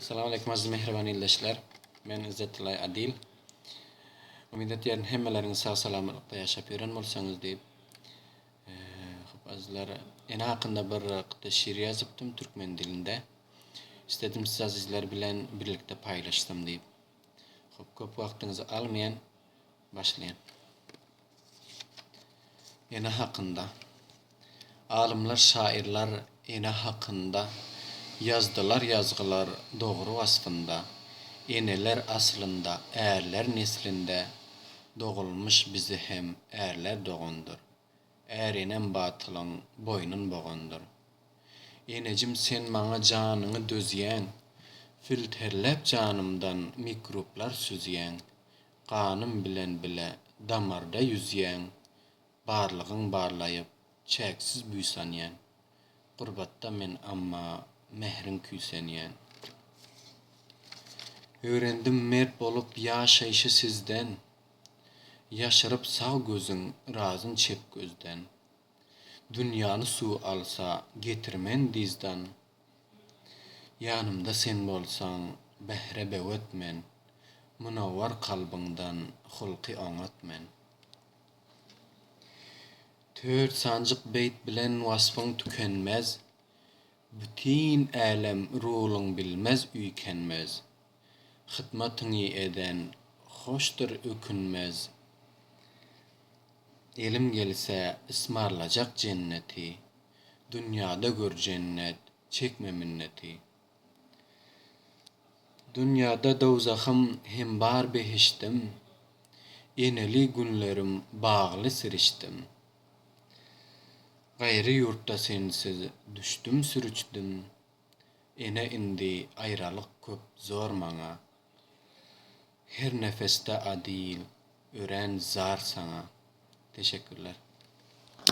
Salam aleýkum aziz mähriban ildeşler. Men Izzetdilay Adil. Umyt etýärin hemmeleriňiz sag salamatlykda ýaşap ýören bolsaňyz diýip. Hop azizler, ene hakynda bir gyta şiir ýazypdym türkmen dilinde. Istedim siz azizler bilen birlikde paýlaşsam diýip. Hop köp wagtyňyzy almaýan. Başlaýyn. Ene hakynda. Alymlar, şaýyrlar ene hakynda Ýazdylar ýazgylar dogry waspynda. Eneler aslynda ärler neslinde Dogulmyş bize hem ärler dogandyr. Är enem batylyň boýnun bogandyr. Enejim sen maňa janyňy dözýäň, Filterläp janymdan mikruplar süzýäň. Ganym bilen bile damarda ýüzýäň, Barlygyň barlaýyp, çäksiz buýsanýan. Gurbatda men amma, mähriň küýsenýän. Öwrendim mert bolup ýaşaýşy sizden, Ýaşyryp sag gözüň, yrazyn çep gözden. Dünýäni suw alsa, getirmen dyzdan, Ýanymda sen bolsaň, bähre böwet men, Munawwar kalbyňdan hulky oňat men. Tört sanjyk beýt bilen waspyň tükenmez, Bütin älem rulyň bilmez üýkenmez. Hytmatyňy eden hoşdur ökünmez, Elim gelse ysmarlajak jenneti, Dünýäde gör jennet, çekme minneti. Dünýäde dowzahym hem bar behişdim, Eneli günlerim bagly sirişdim. Gaýry ýurtda sensiz düşdüm sürüçdim, Ene indi aýralyk köp zor maňa. Her nefesde Adil örän zar saňa. Teşekkürler.